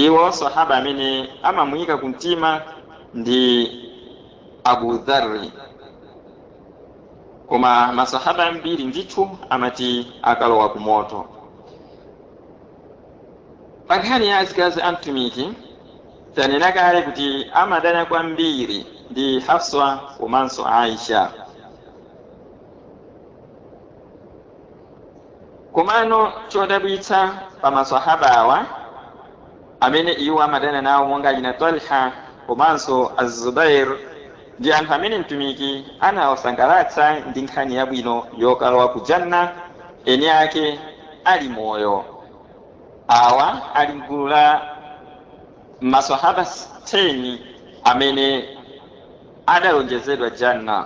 Iwo Sahaba amene amamuyika ku mtima ndi Abu Dharri. Koma ma Sahaba ambiri ndithu amati akalowa ku moto. Pa nkhani ya azikazi a Mtumiki, tanena kale kuti amadana kwambiri ndi Hafswa komanso Aisha. Komano chodabwitsa pa ma Swahaba awa amene iwo amadana nawo monga a Talha komanso Az-Zubair ndi anthu amene Mtumiki anawasangalatsa ndi nkhani yabwino yokalowa ku Jannah eni ake ali moyo. Awa ali m'gulu la ma Swahaba 10 amene adalonjezedwa Jannah.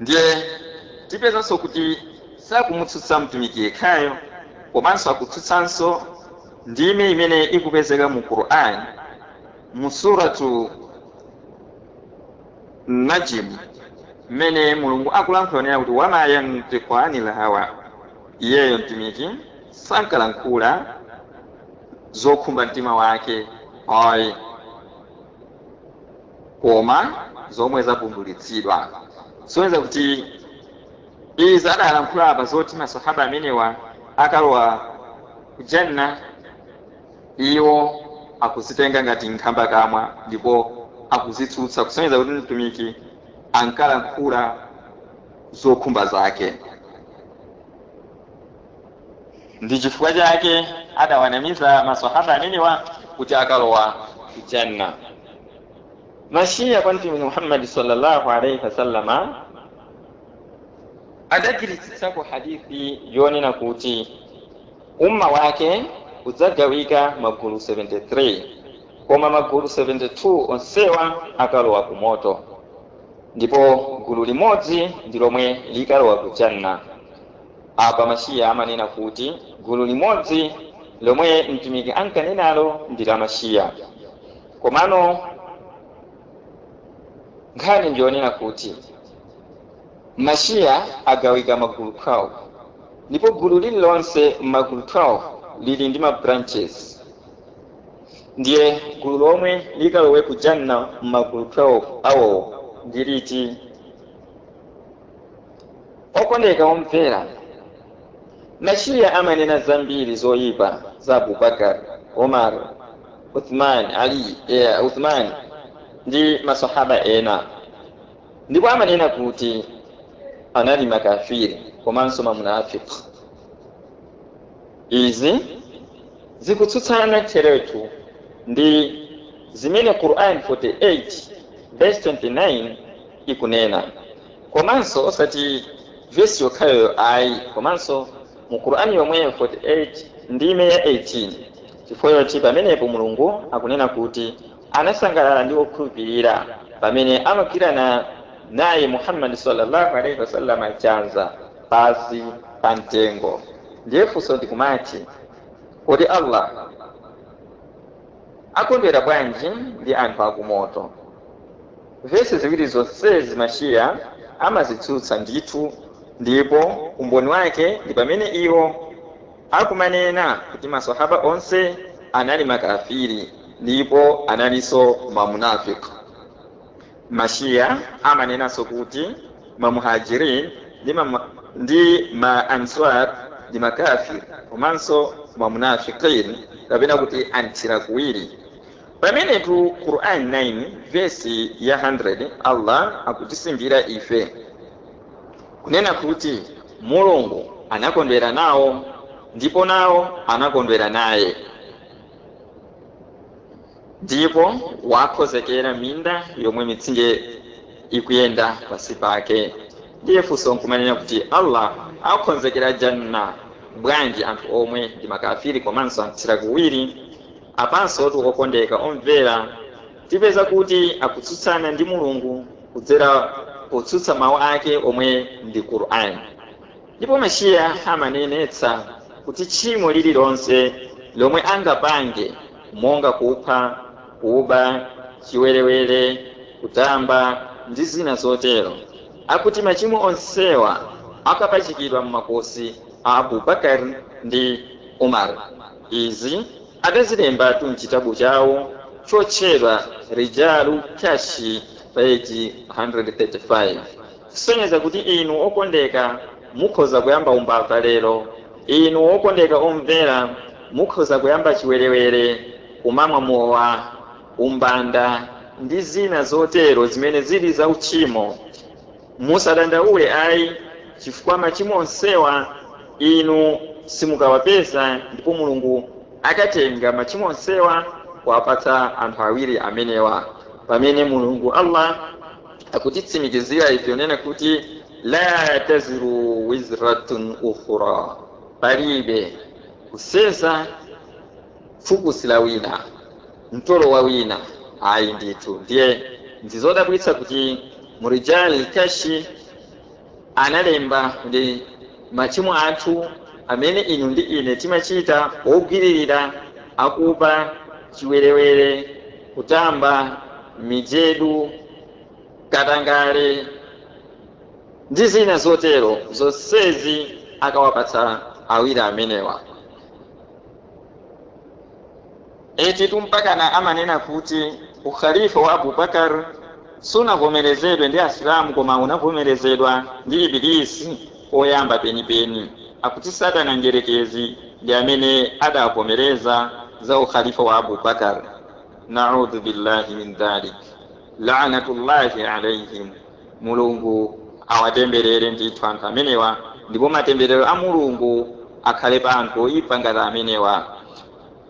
Ndiye tipezanso kuti sakumutsutsa Mtumiki yekhayo, komanso akutsutsanso ndime imene ikupezeka mu Qur'an mu Suratu Najm mmene Mulungu akulankhula kunena kuti, Wama yantiqu anil hawa, iyeyo Mtumiki sankalankhula zokhumba mtima wake ayi. koma zomwe zavumbulitsidwa kusonyeza kuti izi adalankhula apa zoti masahaba amenewa akalowa ku janna iwo akuzitenga ngati nkhambakamwa ndipo akuzitsutsa kusonyeza kuti mtumiki ankalankhula zokhumba zake ndi chifukwa chake adawanamiza masahaba amenewa kuti akalowa ku janna mashiya kwa mtumiki muhammadi sallallahu alaihi wasallama adagwiritsitsa ku hadithi yonena kuti umma wake udzagawika magulu 73 koma magulu 72 onsewa akalowa ku moto ndipo gulu limodzi ndi lomwe likalowa ku janna Apa Mashia amanena kuti gulu limodzi lomwe Mtumiki ankanenalo ndi la Mashia. Komano nkhani ndi yonena kuti Mashia agawika magulu 12 ndipo gulu lililonse m'magulu 12 lili ndi ma branches. Ndiye gulu lomwe likalowe ku Jannah m'magulu 12 awo ndi liti? Okondeka omvera, Mashia amanena zambiri zoipa za Abu Bakar, Umar, Uthman, Ali, eh, Uthman ndi masahaba ena. Ndipo amanena kuti anali makafiri komanso mamunafiq. Izi zikutsutsana theretu ndi zimene Quran 48 verse 29 ikunena. Komanso osati vesi yokhayo ayi komanso mu Qur'an yomweyo 48 ndime ya 18 chifukwa choti pamenepo Mulungu akunena kuti anasangalala ndi okhulupirira pamene amagwirana naye Muhammad sallallahu alaihi wasallam chanza pansi pa mtengo. Ndiye funso ndikumati kodi Allah. Akondwera bwanji ndi anthu akumoto. Vesi ziwiri zonsezi ma Shia amazitsutsa ndithu ndipo umboni wake ndi pamene iwo akumanena kuti masahaba onse anali makafiri ndipo analinso mamunafiq. Mashia amanenanso kuti ma Muhajirin ndi ma Answar ndi makafir komanso ma munafiqin kapena kuti anthira kuwiri. Pamenetu Quran 9 vesi ya 100 Allah akutisimbira ife kunena kuti Mulungu anakondwera nawo ndipo nawo anakondwera naye. Ndipo wawakhonzekera minda yomwe mitsinje ikuyenda pansi pake. Ndiye funso nkumanena kuti Allah awakhonzekera Jannah bwanji anthu omwe ndi makafiri komanso anthira kuwiri? Apansotu okondeka omvera tipeza kuti akutsutsana ndi Mulungu kudzera potsutsa mau ake omwe ndi Qur'an. Ndipo Mashia amanenetsa kuti tchimo lililonse lomwe angapange, monga kupha, kuba, chiwerewere, kutamba, ndi zina zotero, akuti machimo onsewa akapachikidwa m'makosi a Abu Bakar ndi Umar. Izi adazilembatu m'chitabu chawo chotchedwa Rijalu Kashi, peji 135. kusonyeza kuti inu okondeka mukhoza kuyamba umbava lero, inu okondeka omvera mukhoza kuyamba chiwerewere, kumamwa mowa, umbanda, ndi zina zotero zimene zili za uchimo. Musadandaule ayi, chifukwa machimo onsewa inu simukawapeza ndipo Mulungu akatenga machimo onsewa kuwapatsa anthu awiri amenewa pamene Mulungu Allah, akutitsimikizira ife ponena kuti la taziru waziratun wizra ukhra palibe kuseza phukusi la wina mtolo wa wina ayi ndithu ndiye ndizodabwitsa kuti murijal kashi analemba, ndi machimo athu amene inu ndi ine timachita, ogwiririra, akuba, chiwerewere, kutamba, mijedu, katangale, ndi zina zotero, zonsezi akawapatsa awiri amenewa. Etitu mpakana amanena kuti Ukhalifa wa Abu Bakar sunavomerezedwe ndi Asilamu koma unavomerezedwa ndi Iblis poyamba penipeni. Akuti Satana Mdyerekezi ndi amene adavomereza za Ukhalifa wa Abu Bakar. Na'udhu billahi min dhalik. La'natullahi alaihim. Mulungu awatemberere ndithu anthu amenewa ndipo matemberero a Mulungu akhale pa anthu oipa ngati amenewa.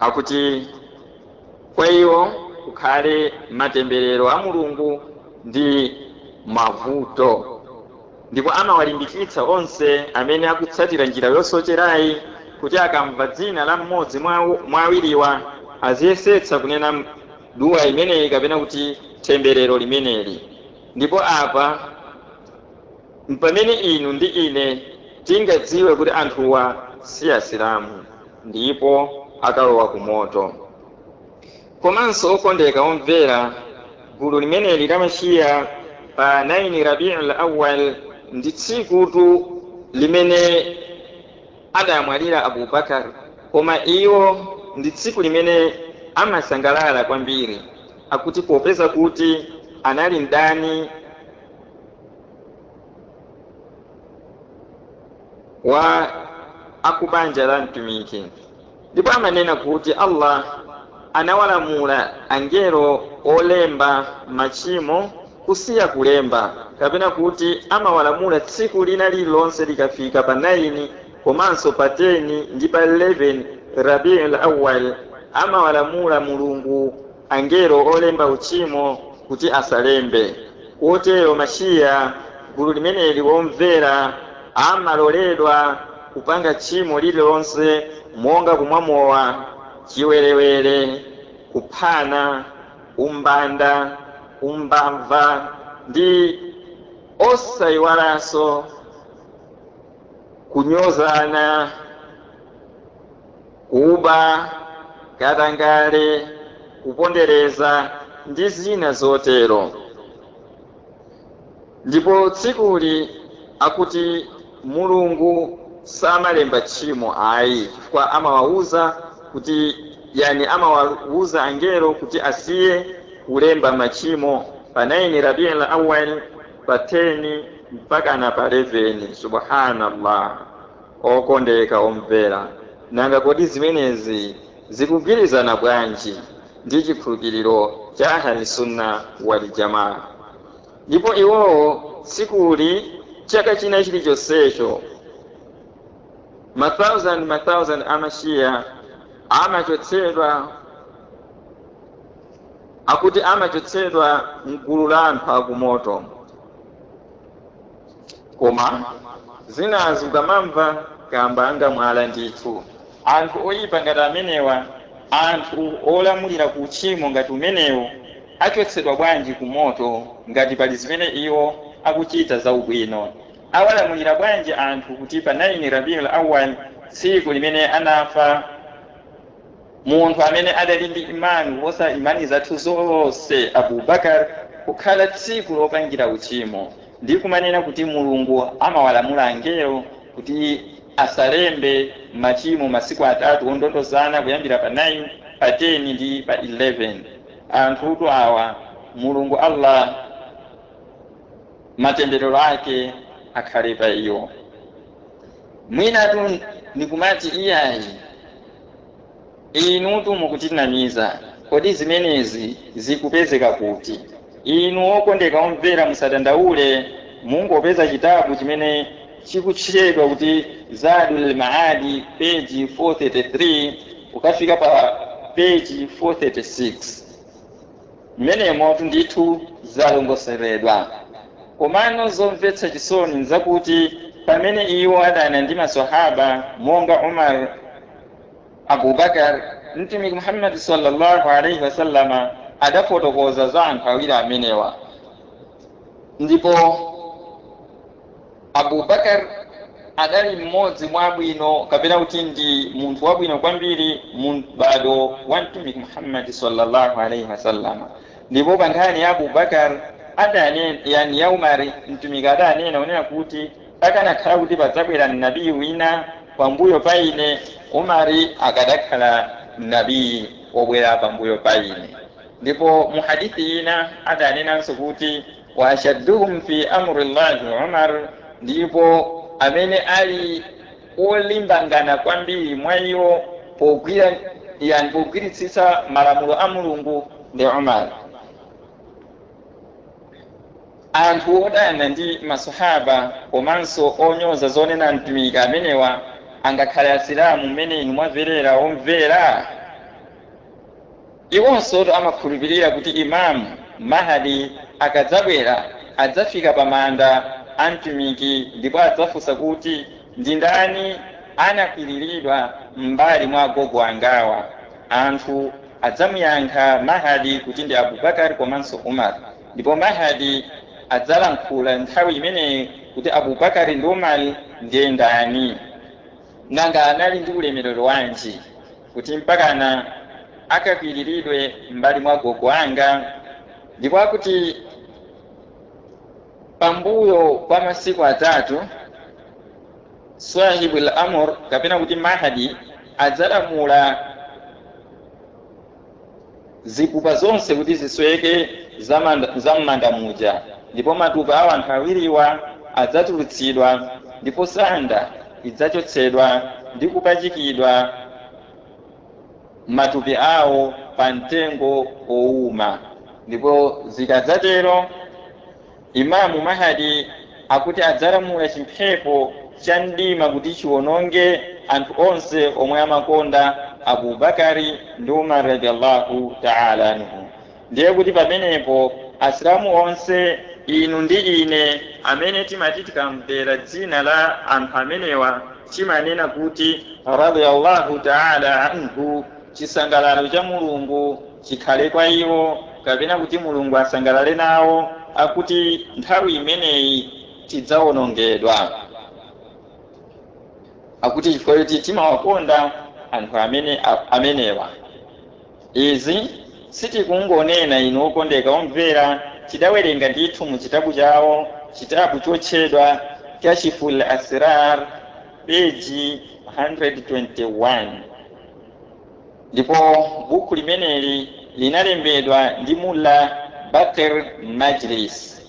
akuti kwa iwo kukhale matemberero a mulungu ndi mavuto ndipo amawalimbikitsa onse amene akutsatira njira yosocherayi kuti akamva dzina la mmodzi mwa awiriwa aziyesetsa kunena m- duwa imeneyi kapena kuti temberero limeneli ndipo apa mpamene inu ndi ine tingadziwe kuti anthuwa si asilamu ndipo akalowa ku moto. Komanso okondeka omvera, gulu limeneli la Mashia pa 9 Rabiul Awwal ndi tsikutu limene adamwalira Abu Bakar, koma iwo ndi tsiku limene amasangalala kwambiri, akuti popeza kuti anali mdani wa akubanja la Mtumiki ndipo amanena kuti Allah anawalamula angelo olemba machimo kusiya kulemba kapena kuti amawalamula tsiku lina lililonse likafika pa 9 komanso pa 10 ndi pa 11 Rabiul Awwal amawalamula Mulungu angelo olemba uchimo kuti asalembe. Kotero ma Shia, gulu limeneli omvera, amaloledwa kupanga tchimo lililonse monga kumwa mowa, chiwerewere, kuphana, umbanda, umbamva ndi osayiwalanso kunyozana. kuba, katangale, kupondereza, ndi zina zotero. Ndipo tsikuli akuti Mulungu samalemba tchimo ayi chifukwa amawauza kuti yani amawauza angelo kuti asiye kulemba machimo pa 9 Rabiul Awwal, pa 10 mpakana pa 11. Subhaanallah! Okondeka omvera, nanga kodi zimenezi zikugwirizana bwanji ndi chikhulupiriro cha Ahl Sunnah wal Jamaah? Ndipo iwowo tsikuli, chaka china chilichonsecho, masauzande masauzande a ma Shia amachotsedwa, akuti amachotsedwa m'gulu la anthu a kumoto. Koma zinazo ukamamva kamba anga mwala ndithu. Anthu oyipa ngati amenewa, anthu olamulira ku uchimo ngati umenewu achotsedwa bwanji ku moto ngati pali zimene iwo akuchita za ubwino? Awalamulira bwanji anthu kuti pa 9 Rabiul Awwal tsiku limene anafa, munthu amene adali ndi Imani kuposa Imani zathu zonse, Abu Bakar, kukhala tsiku lopangira uchimo ndi kumanena kuti Mulungu amawalamula angelo kuti asalembe machimo masiku atatu ondondozana kuyambira pa 9, pa 10 ndi pa 11. Anthutu awa Mulungu Allah matemberero ake akhale pa iwo. Mwinatu nikumati, Iyayi, inutu mukutinamiza. Kodi zimenezi zikupezeka kuti? Inu okondeka omvera musadandaule, mungopeza chitabu chimene chikutchedwa kuti Zaadul Ma'aadi peji 433 kukafika pa peji 436. Mmenemotu ndithu zalongosoledwa. Komano zomvetsa chisoni nzakuti pamene iwo adana ndi ma Swahaba monga Umar, Abu Bakar, Mtumiki Muhammad salla Allah alaih wasallam adafotokoza za anthu awiri amenewa ndipo. Abu Bakar adali mmodzi mwa abwino kapena kuti ndi munthu wabwino kwambiri mu m'bado wa Mtumiki Muhammad salla Allah alaih wasallam. Ndipo pa nkhani ya Abu Bakar adanena, yani ya Umar, Mtumiki adanena kunena kuti, Akanakhala kuti padzabwera Nabi wina pambuyo pa ine, Umar akadakhala Nabi wobwera pambuyo pa ine. Ndipo mu hadith ina adanenanso kuti. wa ashadduhum fi amri llahi umar ndipo amene ali olimbangana kwambiri mwa iwo pogwira yaani pogwiritsitsa malamulo a mulungu ndi umar anthu odana ndi masahaba komanso onyoza zonena mtumiki amenewa angakhale asilamu mmene inu mwamverera omvera Iwonsotu amakhulupirira kuti Imam Mahdi akadzabwera, adzafika pa manda a Mtumiki ndipo adzafunsa kuti, Ndi ndani anakwiriridwa m'mbali mwa agogo angawa? Anthu adzamuyankha Mahdi kuti ndi Abubakar komanso Umar. Ndipo Mahdi adzalankhula nthawi imeneyi kuti, Abubakar ndi Umar ndiye ndani? Nanga anali ndi ulemerero wanji? kuti mpakana akakwiriridwe m'mbali mwa agogo anga, ndipo akuti pambuyo pa masiku atatu swahibul amr kapena kuti mahadi adzalamula zipupa zonse kuti zisweke za mmanda muja, ndipo matupi a anthu awiriwa adzatulutsidwa, ndipo sanda idzachotsedwa ndi kupachikidwa matupi awo pa mtengo wowuma. Ndipo zikadzatero, Imamu Mahdi akuti adzalamula chimphepo cha mdima kuti chiwononge anthu onse omwe amakonda Abu Bakr ndi Umar radhia Allahu taala anhu. Ndiye kuti pamenepo Asilamu onse, inu ndi ine, amene timati tikamvera dzina la anthu amenewa timanena kuti radhia Allahu taala anhu, chisangalalo cha Mulungu chikhale kwa iwo, kapena kuti Mulungu asangalale nawo, akuti nthawi imeneyi tidzawonongedwa. Akuti chifukwa choti timawakonda anthu amenewa. Izi sitikungonena inu okondeka omvera, tidawerenga ndithu mu chitabu chawo, chitabu chotchedwa Kashiful Asrar, peji 121. ndipo buku limeneli linalembedwa ndi mulla baqir majlisi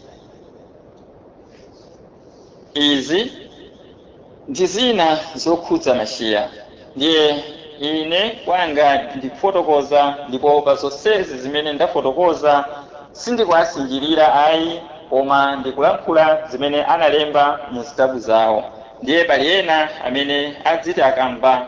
izi ndi zina zokhudza mashiya ndiye ine kwanga ndikufotokoza ndipo pa zonsezi zimene ndafotokoza sindikuwasinjirira ayi koma ndikulankhula zimene analemba mu zitabu zawo ndiye pali ena amene adziti akamva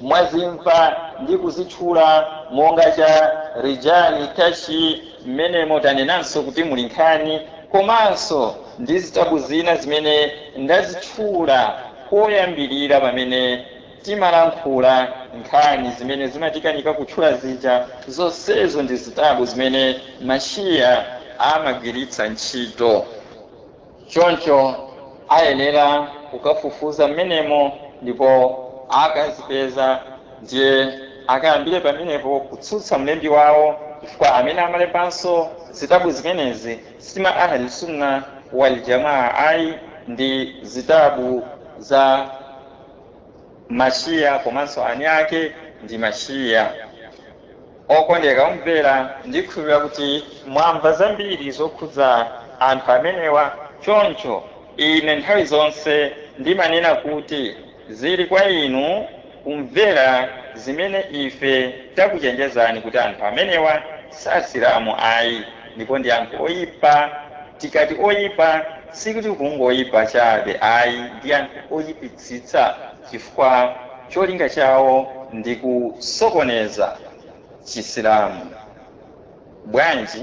mwazimva ndi kuzitchula monga cha rijali kashi mmenemo tinanenanso kuti muli nkhani komanso ndi zitabu zina zimene ndazitchula koyambirira pamene timalankhula nkhani zimene zimatikanika kutchula zija zonsezo ndi zitabu zimene mashiya amagwiritsa ntchito Choncho ayenera kukafufuza mmenemo, ndipo akazipeza, ndiye akayambire pamenepo kutsutsa mlembi wawo, chifukwa amene amalembanso zitabu zimenezi si ma Ahl Sunnah wa'l Jamaa ayi, ndi zitabu za. Mashia komanso eni ake ndi ma Shia. Okondeka omvera ndikhulupilira kuti mwamva zambiri zokhudza anthu amenewa choncho ine nthawi zonse ndimanena kuti zili kwa inu kumvera zimene ife takuchenjezani kuti anthu amenewa sasilamu ayi ndipo ndi anthu oyipa tikati oyipa sikuti kungoyipa chabe ayi ndi anthu oyipi tsitsa chifukwa cholinga chawo ndi kusokoneza Chisilamu. Bwanji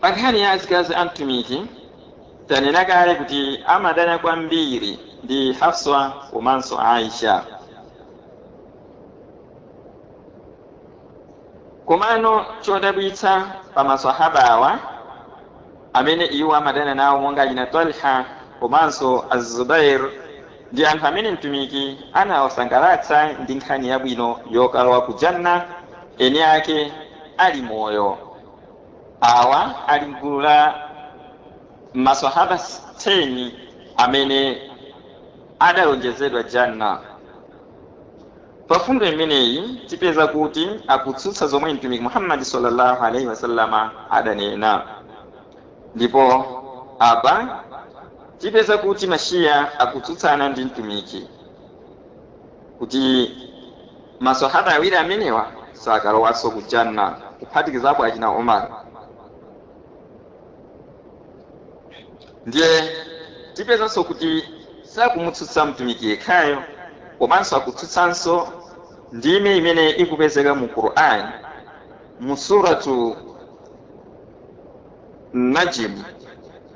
Pa nkhani ya azikazi a Mtumiki, tanena kale kuti amadana kwambiri ndi Hafsa komanso Aisha. Komano chodabwitsa pa maswahaba awa amene iwo amadana nawo monga achina Talha komanso Az-Zubair Ndi anthu amene Mtumiki anawasangalatsa ndi nkhani yabwino yokalowa ku Jannah eni ake ali moyo. Awa ali m'gulu la maswahaba 10 amene adalonjezedwa Jannah. Pa fundo imeneyi tipeza kuti akutsutsa zomwe Mtumiki Muhammad salla Allah alaih wasallam adanena. Ndipo apa tipeza kuti ma Shia akutsutsana ndi Mtumiki kuti ma Swahaba awiri amenewa sakalowanso ku Jannah kuphatikizapo achina Umar. Ndiye tipezanso kuti sakumutsutsa Mtumiki yekhayo komanso akutsutsanso ndime imene ikupezeka mu Quran mu Suratu najm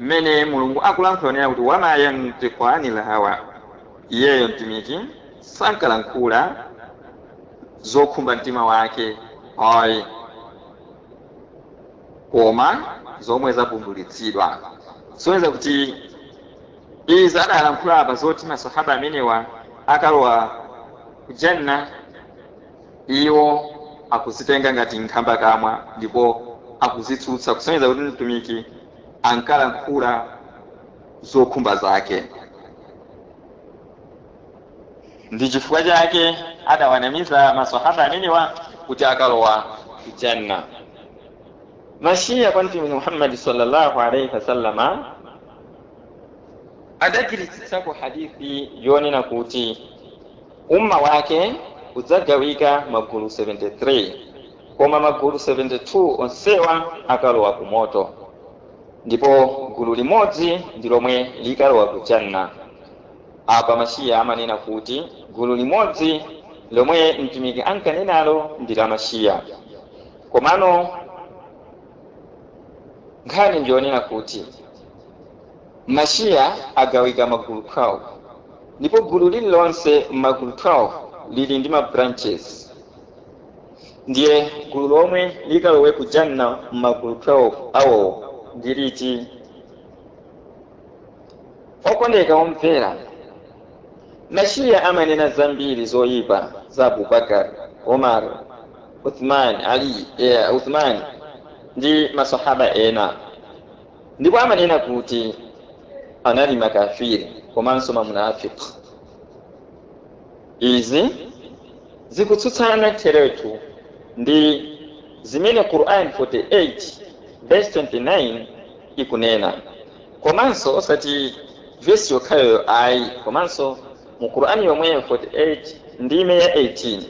mmene mulungu akulankhula kunena kuti wama yantiqu anil hawa iyeyo mtumiki sankalankhula zokhumba mtima wake ayi koma zomwe zavumbulitsidwa kusonyeza kuti izi adalankhula apa zoti masahaba amenewa akalowa kujanna Iwo akuzitenga ngati nkhambakamwa ndipo akuzitsutsa, kusonyeza kuti Mtumiki ankalankhula zokhumba zake ndi chifukwa chake adawanamiza masahaba amenewa kuti akalowa ku Jannah. Ma Shia kwa Mtumiki Muhammad salla Allah alaih wasallam adagwiritsitsako hadith yonena kuti. Ummah wake udzagawika magulu 73, koma magulu 72 onsewa akalowa ku moto, ndipo gulu limodzi ndi lomwe likalowa ku Jannah. Apa ma Shia amanena kuti gulu limodzi lomwe Mtumiki ankanenalo ndi la ma Shia, komano nkhani ndi yonena kuti, Ma Shia agawika magulu 12, ndipo gulu lililonse m'magulu 12 lili ndi ma branches. Ndiye gulu lomwe likalowe ku Jannah m'magulu 12 awo ndi liti? Okondeka omvera, ma Shia amanena zambiri zoipa za Abu Bakr, Umar, Uthman, Ali, Uthman ndi ma Sahaba ena. ndipo amanena kuti anali makafiri komanso mamunafiki izi zikutsutsana theretu ndi zimene quran 48 verse 29 ikunena komanso osati vesi yokhayoyo ayi komanso mu qurani yomweyo 48 ndime ya 18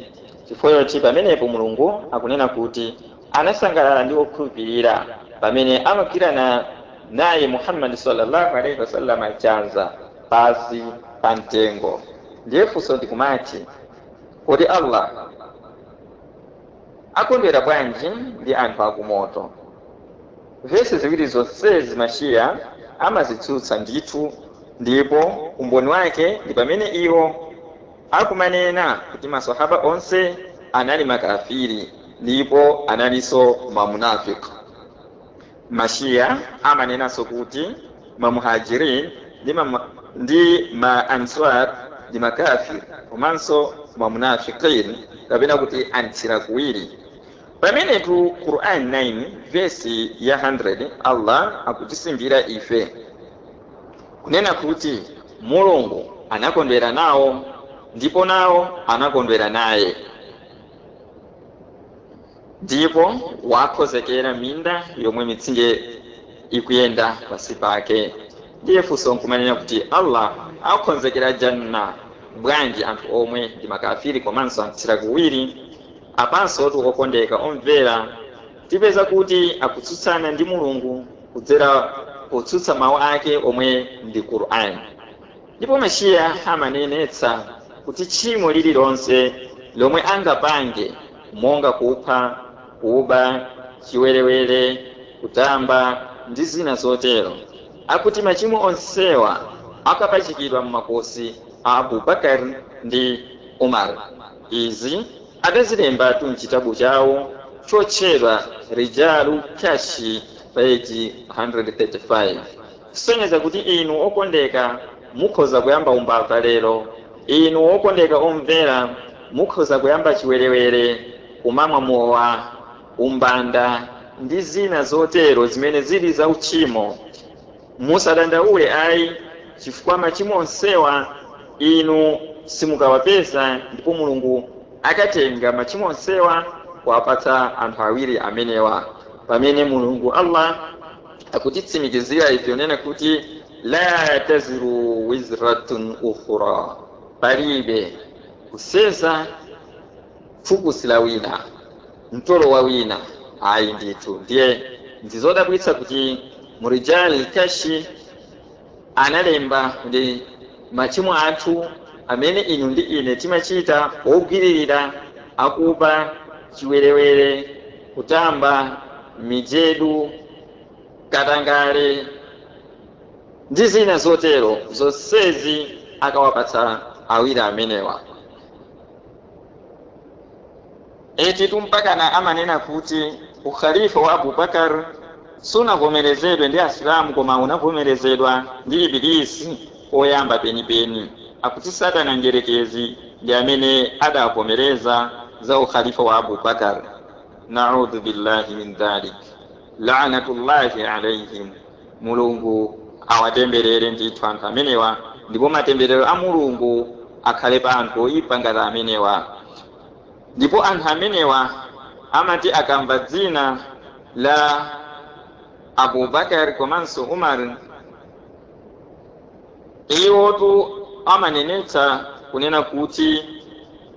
chifukwa choti pamenepo mulungu akunena kuti anasangalala ndi okhulupirira pamene amagwirana naye muhammadi sallallahu alaihi wasallam chanza pansi pa mtengo ndiye funso ndikumati kodi allah akondwera bwanji ndi anthu akumoto vesi ziwiri zonsezi mashiya amazitsutsa ndithu ndipo umboni wake ndi pamene iwo akumanena kuti maswahaba onse anali makafiri ndipo analinso ma munafiq. Ma Shia amanenanso kuti ma muhajirin ndi ma answar ndi makafir komanso ma munafiqin kapena kuti anthira kuwiri. Pamenetu Quran 9 vesi ya 100 Allah akutitsimikizira ife. Kunena kuti Mulungu anakondwera nawo ndipo nawo anakondwera naye. Ndipo wawakonzekera minda yomwe mitsinje ikuyenda pansi pake. Ndiye funso nkumanena kuti Allah akonzekera Jannah bwanji anthu omwe ndi makafiri komanso amthira kuwiri? Apansotu okondeka omvera! Tipeza kuti akutsutsana ndi Mulungu kudzera potsutsa mau ake omwe ndi Qur'an. Ndipo ma Shia amanenetsa kuti tchimo lililonse lomwe angapange monga kupha, kuba, chiwerewere, kutamba ndi zina zotero, akuti machimo onsewa akapachikidwa mmakosi a Abu Bakar ndi Umar. Izi. Adazilembatu m'chitabu chawo chotchedwa Rijaalu Kashi peji 135 kusonyeza kuti inu okondeka mukhoza kuyamba umbava lero, inu okondeka omvera mukhoza kuyamba chiwerewere, kumamwa mowa, umbanda ndi zina zotero zimene zili za utchimo. Musadandaule ayi, chifukwa machimo onsewa inu simukawapeza ndipo Mulungu akatenga machimo onsewa kuwapatsa anthu awiri amenewa pamene Mulungu Allah akutitsimikizira ife kunena kuti, laa taziru wizratun ukhraa, palibe kuseza, Phukusi la wina, mtolo wa wina, ayi ndithu. Ndiye ndi zodabwitsa kuti mu Rijaal Kashi analemba kuti machimo athu amene inu ndi ine timachita ogwiririra, akuba, chiwerewere, kutamba, mijedu, katangale ndi zina zotero, zonsezi akawapatsa awiri amenewa Etitu mpakana amanena kuti u Khalifa wa Abu Bakar sunavomerezedwe ndi Asilamu koma unavomerezedwa ndi Iblis oyamba penipeni. Akuti Satana Mdyerekezi ndi amene adavomereza za u Khalifa wa Abu Bakar. Na'udzubillahi min dhalik. La'natullahi alaihim. Mulungu awatemberere ndithu anthu amenewa ndipo matemberero a Mulungu akhale pa anthu oipa ngati amenewa. Ndipo anthu amenewa amati akamva dzina la Abubakar komanso Umar, iwotu amanenetsa kunena kuti.